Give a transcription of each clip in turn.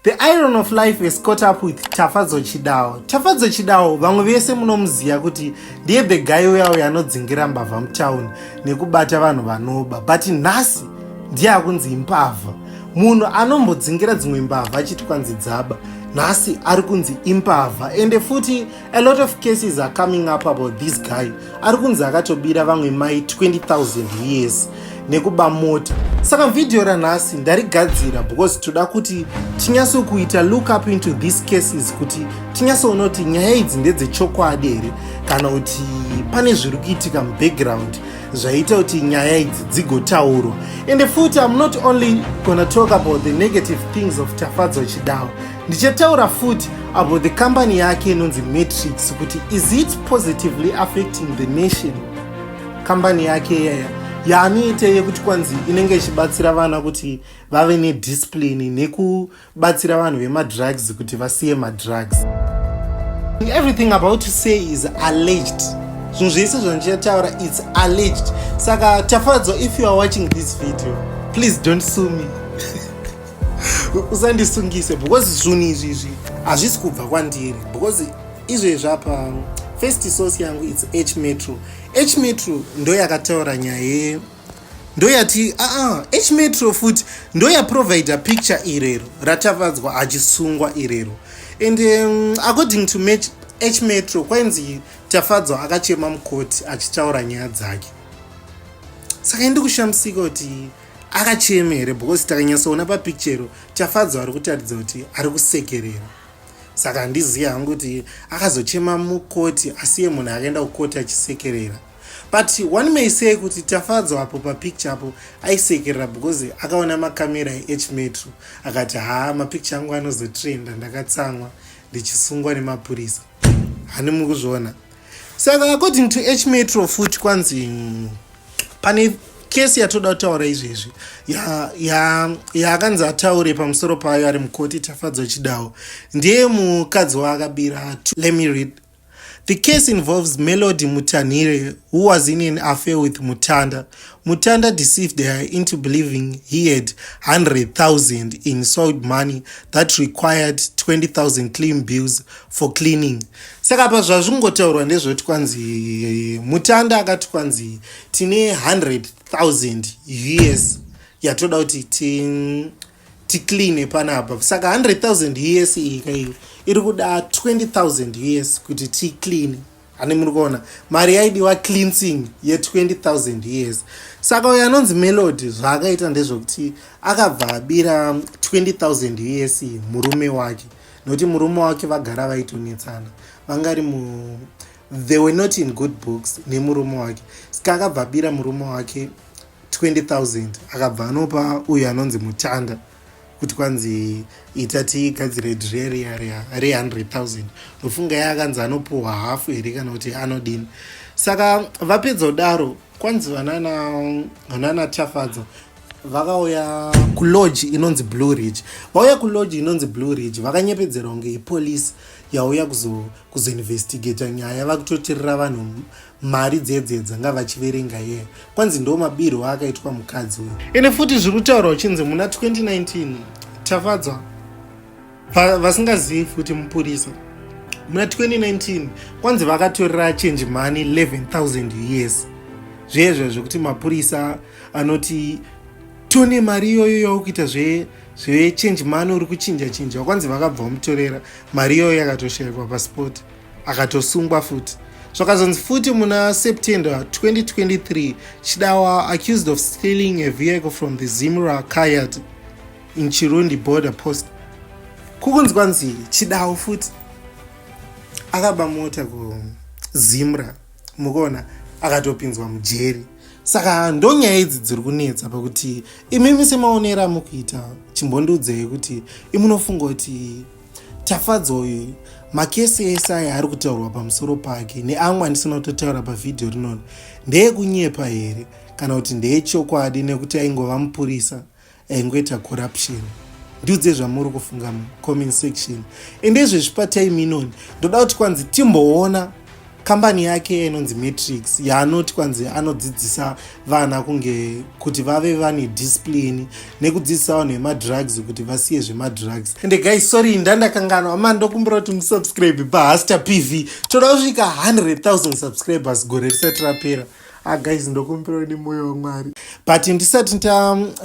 The iron of life is caught up with Tafadzo Chidawo. Tafadzo Chidawo vamwe vese munomuziya kuti ndiye the guy uya uya anodzingira mbavha mutown nekubata vanhu vanoba but nhasi ndiye akunzi imbavha. Munhu anombodzingira dzimwe mbavha achiti kwanzi dzaba nhasi ari kunzi imbavha ende futi a lot of cases are coming up about this guy ari kunzi akatobira vamwe mai 20000 years nekuba mota saka vhidhiyo ranhasi ndarigadzira because toda kuti tinyase kuita look up into these cases kuti tinyase kuona kuti nyaya idzi ndedzechokwadi here kana kuti pane zviri kuitika mubackground zvaita kuti nyaya idzi dzigotaurwa ende futi im not only gona talk about the negative things of tafadzwa chidawa Ndichataura futi about the company yake inonzi Matrix kuti is it positively affecting the nation company yake iyaya yaanoita yekuti kwanzi inenge ichibatsira vana kuti vave nediscipline nekubatsira vanhu vemadrugs kuti vasiye madrugs everything about to say is alleged zvinhu zvese zvandichataura its alleged saka tafadzwa if you are watching this video please don't sue me usandisungise because zvinhu izvi izvi hazvisi kubva kwandiri because izvezvi apa first source yangu its h metro h metro ndo yakataura nyaya ye ndo yati aa ah, ah, h metro futi ndo yaprovide picture irero ratavadzwa achisungwa irero and um, according to match h metro kwainzi tafadzwa akachema mukoti achitaura nyaya dzake saka indi kushamisika kuti akacheme here because takanyatsoona papicture tafadzwa ari kutaridza kuti ari kusekerera saka handizivi hangu kuti akazochema mukoti asiye munhu akaenda kukoti achisekerera but one may say kuti tafadzwa apo papicture apo aisekerera because akaona makamera eech metro akati haa mapicture angu anozotrenda ndakatsamwa ndichisungwa nemapurisa hani mukuzviona saka according to eech metro futi kwanzi pane kesi yatoda kutaura izvezvi yaakanzi ya, ya ataure pamusoro payo ari mukoti tafadzwa chidawo ndiye mukadzi waakabira let me read The case involves Melody Mutanire, who was in an affair with Mutanda. Mutanda deceived her into believing he had 100,000 in sold money that required 20,000 clean bills for cleaning saka apa zvazvingotaurwa ndezvekuti kwanzi mutanda akati kwanzi tine 100000 us yatoda kuti ticleane panapa saka 100000 us iyi kaiyo iri kuda 20000 us kuti ticleane hani muri kuona mari yaidiwa cleansing ye20000 years saka uyo anonzi melody zvaakaita ndezvokuti akabva abira 20000 years murume wake nokuti murume wake vagara vaitonetsana vangari mu they were not in good books nemurume wake saka akabva abira murume wake 20000 akabva anopa uyo anonzi mutanda kuti kwanzi ita tigadzire dre riya riya re 100000 ndofunga ya akanzi anopuhwa hafu here kana kuti anodini saka vapedza kudaro kwanzi vanana tafadzwa vakauya kulodge inonzi blue ridge vauya kulodge inonzi blue ridge vakanyepedzerwa kunge ipolice yauya kuzoinvestigata nyaya vakutotirira vanhu mari dzedzedza ngavachiverenga yeye kwanzi ndo mabirwo akaitwa mukadzi uyu ende futi zviri kutaurwa uchinzi muna 2019 tafadzwa vasingazivi futi mupurisa muna 2019 kwanzi vakatorera change money 11000 years zvezvo zvekuti mapurisa anoti tone mari iyoyo yaukuita zve zvechange money uri kuchinja chinja kwanzi vakabva vamutorera mari iyoyo yakatoshaikwa paspoti akatosungwa futi zvakazonzi futi muna september 2023 chidawa accused of stealing a vehicle from the zimra kayat in chirundi border post kukunzwa nzi chidawo futi akaba mota kuzimra mukuona akatopinzwa mujeri saka ndonyaya idzi dziri kunetsa pakuti imimi semaonero amukuita chimbondiudzei kuti imunofunga kuti Tafadzwa uyu makesi ese aya ari kutaurwa pamusoro pake neamwe andisina kutotaura pavhidhiyo rinoni ndeekunyepa here kana kuti ndeechokwadi nekuti aingova mupurisa aingoita corruption ndiudze zvamuri kufunga mucomment section ende izvezvi patime inoni ndoda kuti kwanzi timboona kambani yake inonzi matrix yaanoti kwanzi anodzidzisa vana kunge kuti vave vane discipline nekudzidzisa vanhu vemadrugs kuti vasiye zvemadrugs ende guys sorry ndandakanganwa ma ndokumbira kuti musubscribe pahasta pv toda kusvika 100000 subscribers gore risati rapera Ah guys ndokumbirawo nemoyo waMwari. But ndisati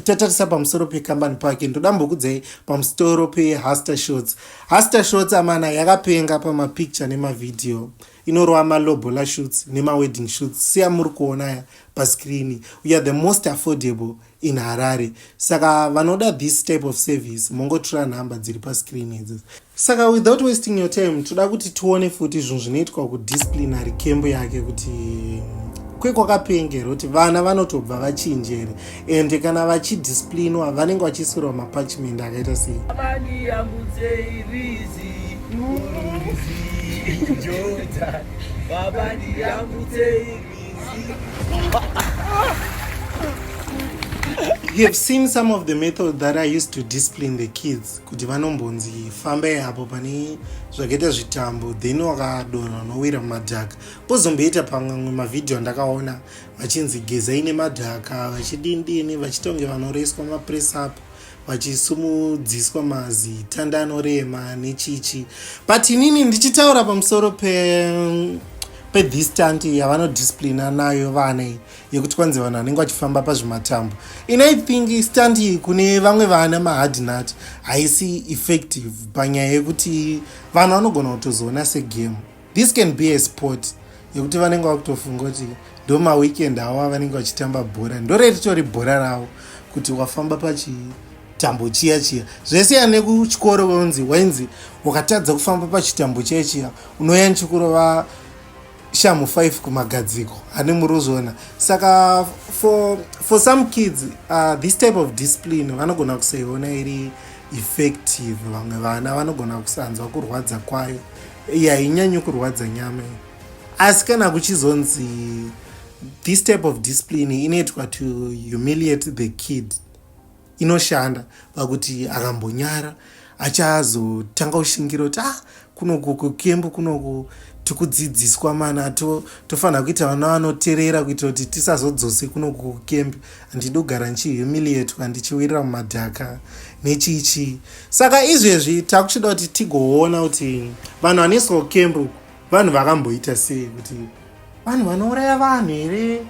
tatarisa pamusoro pekambani pake ndoda mbokudzai pamusoro peHaster Shots. Haster Shots amana yakapenga pamapicture nemavideo. Inorova malobola shoots nemawedding shoots siya muri kuona ya paskrini. We are the most affordable in harare saka vanoda this type of service mongotura number dziri pascreen idzi saka without wasting your time toda kuti tione futi zvinhu zvinoitwa kudisciplinary camp yake kuti kwekwakapengera kuti vana vanotobva vachinjere ende kana vachidisciplinwa vanenge vachisirwa mapachment akaita sei Baba, You have seen some of the method that I used to discipline the kids kuti vanombonzi fambai apo pane zvakaita zvitambo then wakadonha unowira mumadhaka pozomboita pamwe mavhidhiyo andakaona vachinzi gezai nemadhaka vachidindini vachitonge vanoreswa mapress up vachisumudziswa mazitanda anorema nechichi but inini ndichitaura pamusoro pe pedistant yavanodisciplina nayo vana iyi yekuti kwanzi vanhu vanenge vachifamba pazvimatambo in i think stand iyi kune vamwe vana mahardnut haisi effective panyaya yekuti vanhu vanogona kutozoona segame this can be a sport yekuti vanenge vakutofunga kuti ndo maweekend awo avanenge vachitamba bhora ndoreritori bhora ravo kuti wafamba pachitambo chiya chiya zvesiyana nekuchikoro vonzi wainzi wakatadza kufamba pachitambo chiya chiya unoya nchikurova shamu 5 kumagadziko ane murozviona saka for, for some kids uh, this type of discipline vanogona kusaiona iri effective vamwe vana vanogona kusanzwa kurwadza kwayo iya hainyanyi kurwadza nyama iyi asi kana kuchizonzi this type of discipline inoitwa to humiliate the kid inoshanda pakuti akambonyara achazotanga kushingira kuti ah kunoku kukembu kunoku tikudzidziswa mana tofanira to kuita vana vanoterera kuitira kuti tisazodzose kunoku kukembu ndinogara ndichihumiliatwa ndichiwirira mumadhaka nechii chii saka izvezvi takuchida kuti tigoona kuti vanhu vanoiswa kukembu vanhu vakamboita sei kuti vanhu vanouraya vanhu here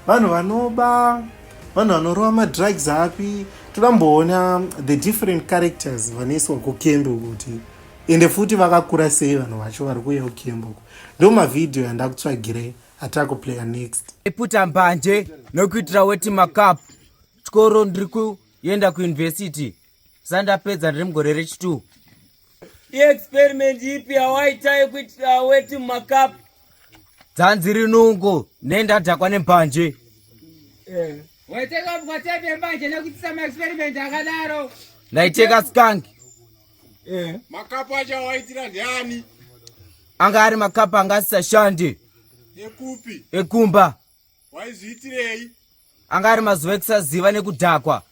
vanhu vanoba vanhu vanorova madrugs api toda mboona the different characters vanoiswa kukembu kuti ende futi vakakura sei vanhu vacho vari kuuya kukembu ndomavhidhiyo yandakutsvagirei Atako player next. Iputa mbanje nokuitira weti macup. Chikoro ndiri kuenda kuuniversity. Sandapedza ndiri mugore rechitu. Iexperiment ipi yawaita yekuitira weti macup? Dzanzi rinungo nendadhakwa nembanje. Eh. Waiteka mbanje nekuitisa maexperiment akadaro. Ndaiteka skank. Eh. Makapu acho awaitira ndiani? Anga ari makapu anga asisashandi. Ekupi? Ekumba. Waizviitirei? Anga ari mazuva ekusaziva nekudhakwa.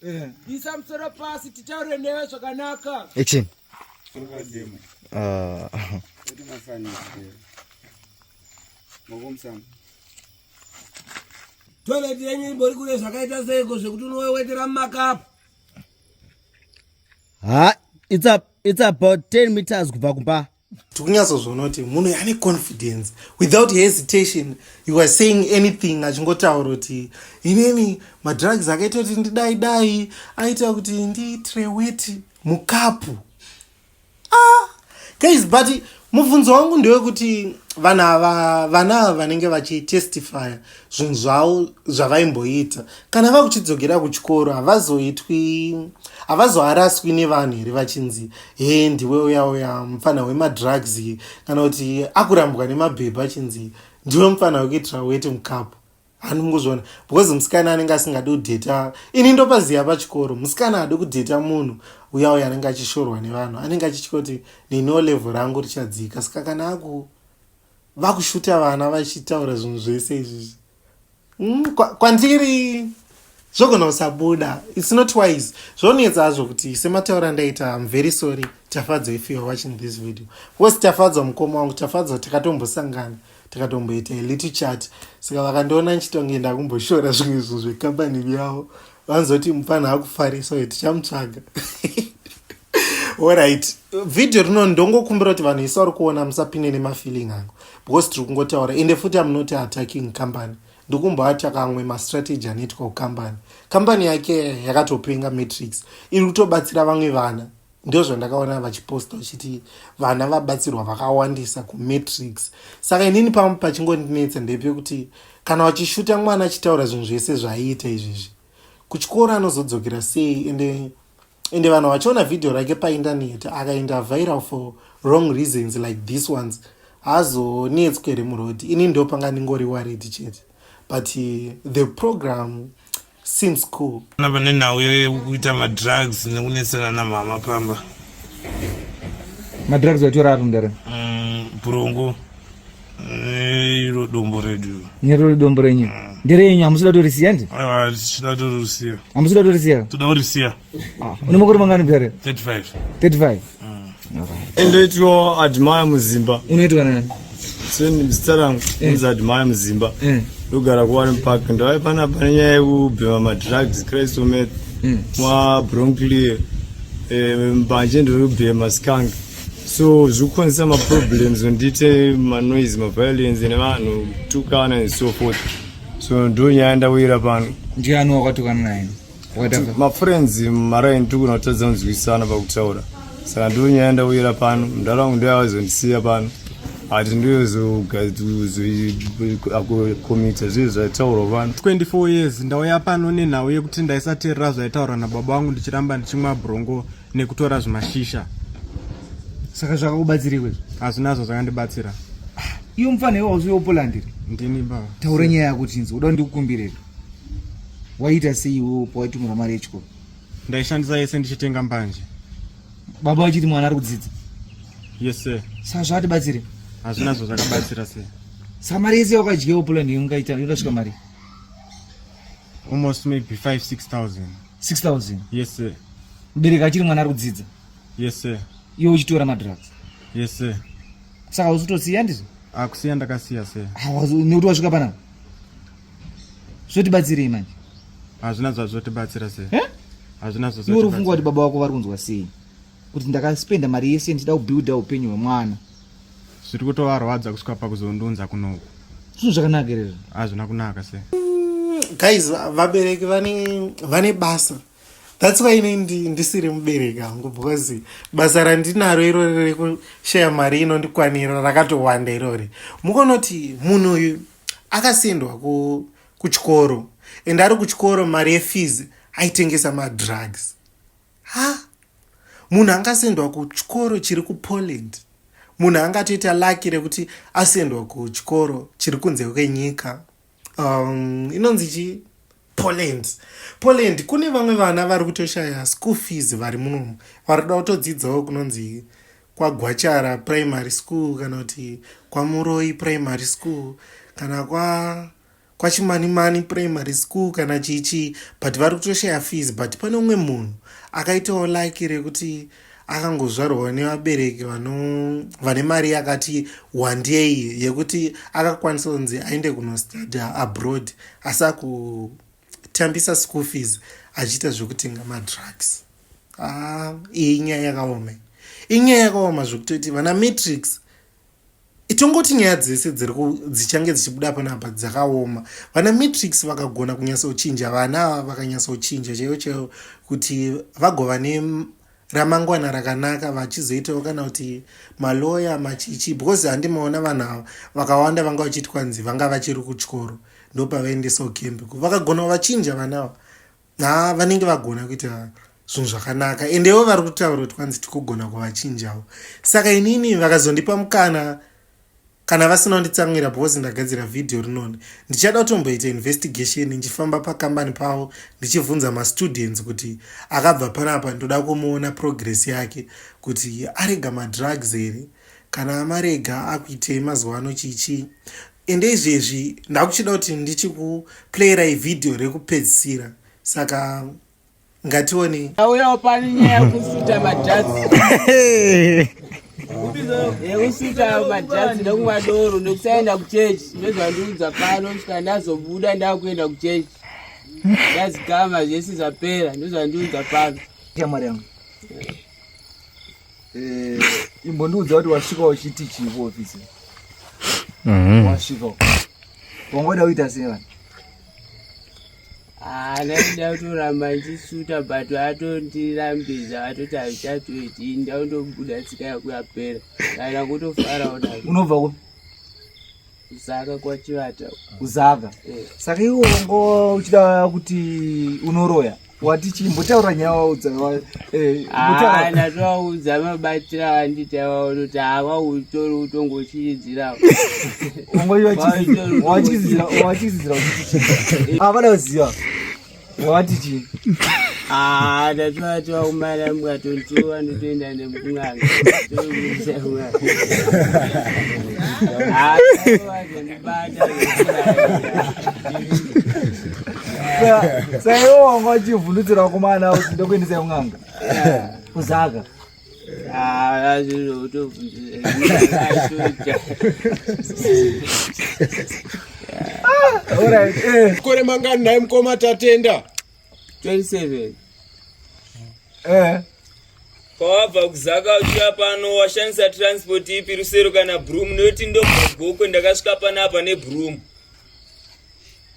Eh. Isa musoro pasi titaure newe zvakanaka. Action. Ah. Kuti mafani. Ngokumsana. Toilet yenyu imbori kule zvakaita seiko zvekuti unowewetera mumakapu. ha it's, a, it's about 10 meters kubva kumba tikunyatsozvona kuti munhu ane confidence without hesitation you are saying anything achingotaura kuti inini madrugs akaita kuti ndidai dai aita kuti ndiitire weti mukapu ah, guys but mubvunzo wangu ndewekuti vanhu ava vana ava vanenge vachitestifya zvinhu zvavo zvavaimboita kana vakuchidzokera kuchikoro havazoitwi havazoaraswi nevanhu here vachinzi he ndiwe uya uya mupfanha wemadrugs kana kuti akurambwa nemabhebha achinzi ndiwe mupfanha wekuitira weti mukapu handi mukuzviona because musikana anenge asingadi kudheta ini ndopaziva pachikoro musikana hadi kudheta munhu uya uya anenge achishorwa nevanhu anenge achitya kuti nino level rangu richadzika saka kana aku vakushuta vana vachitaura zvinhu zvese izvizvi mm, kwandiri kwa zvogona kusabuda its not wise zvonetsa hazvo kuti semataura andaita am very sorry tafadzwa if youare watching this video bcause tafadzwa mukoma wangu tafadzwa takatombosangana takatomboita little chat saka vakandiona ndichitonge ndakumboshora zvimwe zvinhu zvekambani vyavo vanzoti mupfanha akufarisa uye tichamutsvaga orit vhidhiyo rino ndongokumbira kuti vanhu isi vari kuona musapinde nemafeeling angu because tiri kungotaura ende futi amunoti attacking company ndokumboati akamwe mastrategy anoitwa kukambani kambani yake yakatopenga matrix iri kutobatsira vamwe vana ndo zvandakaona vachiposta vachiti vana vabatsirwa vakawandisa kumatrix saka inini pamwe pachingondinetsa ndepekuti kana vachishuta mwana achitaura zvinhu zvese zvaiita izvezvi kuchikoro anozodzokera sei ende ende vanhu vachiona video rake paindaneti akainda viral for wrong reasons like this ones haazonetswe here muroad ini ndo panga ndingori wared chete but uh, the program seems cool ana vane nhau yekuita madrugs nekunetsana namama pamba madrugs vatora apo ndare mm, brongo Eh, iro dombo redu nirori dombo renyu mm. nderenyu hamusida torisiya ndi ah, tichida torisiya hamusida torisiya toda kurisiya ah, une makore mangani bere 35 35 endoitwa admire muzimba unoitwa nani zita rangu eh. inzi admire muzimba eh. ndogara kuwani park ndavai pana pane nyaya yekubhema madrugs christ omet mwa bronclear mbanje ndiri kubhema skanga so zvikukonzesa maproblems ndite manoise maviolence nevanhu kutukana and so forth so ndo nyaya ndawira pano ndiani wakatukana naye mafriends maraini tikuna kutadza kunzwisana pakutaura saka ndo nyaya ndawira pano mdara wangu ndo yavazondisiya pano ati ndoyozokomita zviye zvaitaurwa vanhu 24 years ndauya pano nenhau yekuti ndaisateerera zvaitaurwa nababa wangu ndichiramba ndichimwa brongo nekutora zvimashisha saka zvakakubatsirikwe hazvinazvo zvakandibatsira iyo mufana iwo wauziva upolandiri ndini ba taura nyaya yako tinzi uda ndikukumbirei waita sei iwo pawaitumira mari yechikoro ndaishandisa yese ndichitenga mbanje baba vachiti mwana ari kudzidza yes sir saka zvakatibatsire hazvinazvo zvakabatsira sir saka mari yese yawakadyewo polandiri ungaita yodasvika mari almost maybe 5 6000 6000 yes sir mubereki achiri mwana ari kudzidza yes sir iwe uchitora madrugs yes sir saka usitosiya ndizvo akusiya ah, ndakasiya sir nekuti wasvika panapa zvotibatsirei manje hazvina zvazvotibatsira sir eh? hazvina zvazvo uri kufunga kuti baba wako vari kunzwa sei kuti ndakaspenda mari yese ndichida kubuilda upenyu hwemwana zviri kutovarwadza kusvika pakuzondunza kunoku zvinhu zvakanaka ere hazvina kunaka se guys vabereki vane vane basa that's why ini ndisiri mubereki hangu because basa randinaro irori rekushaya mari inondikwanira rakatowanda irori mukonoti munhu uyu akasendwa ku kuchikoro and ari kuchikoro mari yefees aitengesa madrugs Ha! Munhu angasendwa kuchikoro chiri kuPoland. Munhu angatoita lucky rekuti asendwa kuchikoro chiri kunze kwenyika. Um, inonzi chii? Poland. Poland kune vamwe vana vari kutoshaya school fees vari munomu. Vari kuda kutodzidzawo kunonzi kwagwachara primary school kana kuti kwamuroyi primary school kana kwa kwachimanimani primary school kana chichi but vari kutoshaya fees but pane umwe munhu akaitawo laki rekuti akangozvarwawo nevabereki vane mari yakati wandei yekuti akakwanisa kunzi aende kunostadya abroad asi akutambisa school fees achiita zvekutenga madrugs ah, iyi nyaya yakaoma inyaya yakaoma zvekutoti vana matrix itongoti nyaya dzese dzichange dzichibuda panapa dzakaoma vana matrix vakagona kunyatsochinja vana ava vakanyatsochinja chaiyo chaiyo kuti vagova neramangwana rakanaka vachizoitawo kana kuti maloya machichi because handimaona vanhu ava vakawanda vanga vachiti kwanzi vanga vachiri kuchikoro ndopavaendesawo kembe vakagona vachinja vana ava haa vanenge vagona kuita zvinhu zvakanaka endewo vari kutaura kuti kwanzi tikugona kuvachinjawo saka inini vakazondipa mukana kana vasina kunditsamwira because ndagadzira vhidhiyo rinoni ndichada kutomboita investigation ndichifamba pakambani pavo ndichibvunza mastudents kuti akabva panapa ndoda kumuona progress yake kuti arega madrugs here kana amarega akuitei mazuva ano chichii ende izvezvi ndakuchida kuti ndichikuplayirai vhidhiyo rekupedzisira saka ngatione auyawo pani nyaya yekusuta majazi yekusuta majazi nekumwa doro nekusaenda kuchechi ndozvandiudza pano kusvika ndazobuda ndakuenda kuchechi ndazigama zvese zvapera ndozvandiudza pano Eh, imbondiudza kuti wasvika uchiti chii kuofisi mhm. wasvika wangoda kuita sei vanhu anaida ah, kutoramba achisuta but atondirambidza atoti azichatoiti ndaundobuda tsika yako yapera kana kutofarawo unobva kupi Zaka kwa Chivata. Kuzaka. Eh. Saka iwe ngo uchida kuti unoroya. Wati chi mbotaura nyaya waudza wa eh mbotaura. Ah, na twaudza mabatira wanditi waono kuti ava utori utongo chiridzira. Ngo iwe chi. Wachizira, wachizira. Ah, vana uziva. wati chii Ah, that's why to our madam got on two and ten and them kungan. Sayo wangu achivhundutsira kumana usi ndokuendesa kun'anga. Kuzaka. kore mangani naye mukoma tatenda 27 eh pawabva kuzaka uchiya pano washandisa transport ipi rusero kana broom noti ndobva gokwe ndakasvika panapa nebroom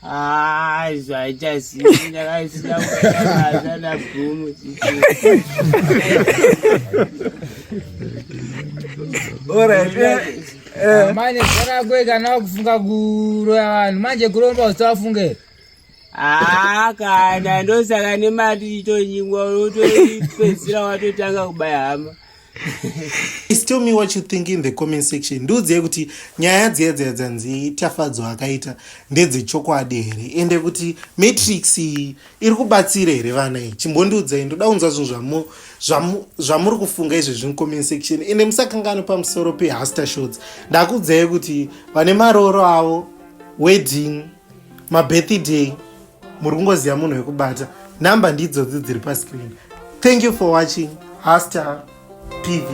Ah, isso aí já assim, ainda vai ensinar o cara já na fumo. Ora, é. Manje kana kwega na kufunga kuroya vanhu manje kuromba usafunge. Ah, kana ndosaka nemari itonyingwa unotoipedzisira watotanga kubaya hama. Please tell me what you think in the comment section ndiudzei kuti nyaya dziya dziya dzanzi tafadzwa akaita ndedzechokwadi here ende kuti matrix iyi iri kubatsira here vana iyi chimbondiudzai ndoda kunzwa zvinhu zvamuri kufunga izvi zviri comment section ende musakangano pamusoro pehaster shots ndakuudzai kuti vane marooro avo wedding mabirthday muri kungoziva munhu wekubata number ndidzodzi dziri pascreen thank you for watching hastar pv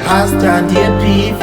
hastar ndiye pv